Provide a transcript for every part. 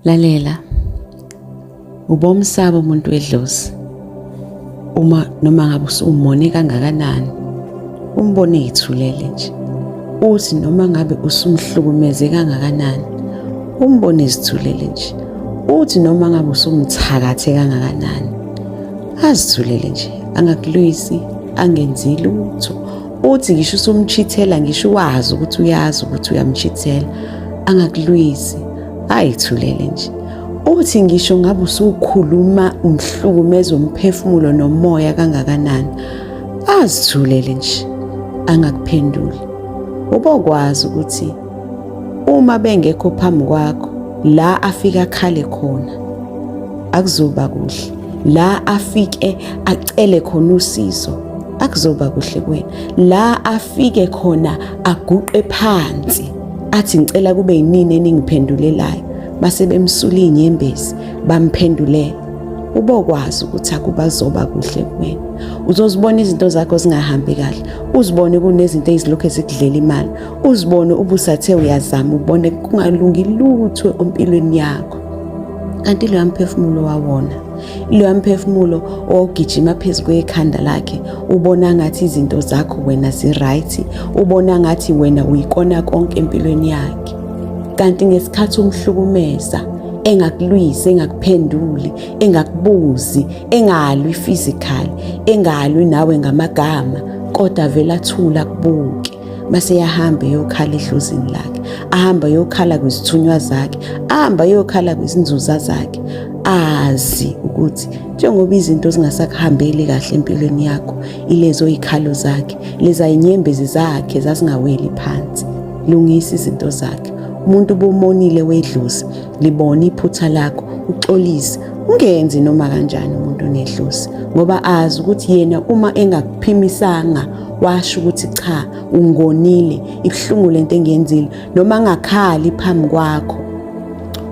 lalela ubomsaba umuntu wedlozi uma noma ngabe usumone kangakanani umbone yithulele nje uthi noma ngabe usumhlukumeze kangakanani umbone izithulele nje uthi noma ngabe usumthakathe kangakanani azithulele nje angakulwisi angenzi lutho uthi ngisho usumchithela ngisho wazi ukuthi uyazi ukuthi uyamchithela angakulwisi ayithulele nje uthi ngisho ngabe usukhuluma umhlukumeza umphefumulo nomoya kangakanani azithulele nje angakuphenduli ubokwazi ukuthi uma bengekho phambi kwakho la afika khale khona akuzoba kuhle la afike acele khona usizo akuzoba kuhle kuwena la afike khona aguqe phansi athi ngicela kube yinini eningiphendulelayo base bemsula inyembezi bamphendulela ubokwazi ukuthi akubazoba kuhle kuwena uzozibona izinto zakho zingahambi kahle uzibone kunezinto ezilokhu ezikudlela imali uzibone ubusathe uyazama ubone kungalungi lutho empilweni yakho kanti loya mphefumulo wawona loya mphefumulo ogijima phezu kwekhanda lakhe ubona ngathi izinto zakho wena ziright ubona ngathi wena uyikona konke empilweni yakhe kanti ngesikhathi umhlukumeza engakulwisi engakuphenduli engakubuzi engalwi physically engalwi nawe ngamagama kodwa vele athula kubuke base yahamba eyokhala edlozini lakhe ahamba yokhala kwizithunywa zakhe ahamba yokhala kwizinzuza zakhe azi ukuthi njengoba izinto zingasakuhambeli kahle empilweni yakho ilezo ikhalo zakhe leza inyembezi zakhe zasingaweli phansi lungisa izinto zakhe umuntu bomonile wedlozi libone iphutha lakho uxolise ungenzi noma kanjani umuntu onedlozi ngoba azi ukuthi yena uma engakuphimisanga washo ukuthi cha ungonile ibuhlungu lento engiyenzile noma angakhali phambi kwakho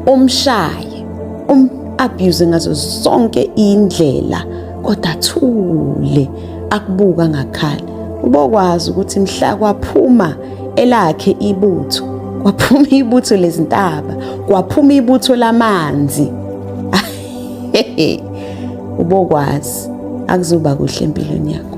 umshaye um abuse ngazo zonke indlela kodwa thule akubuka ngakhala ubokwazi ukuthi mhla kwaphuma elakhe ibutho kwaphuma ibutho lezintaba kwaphuma ibutho lamanzi ubokwazi akuzoba kuhle empilweni yakho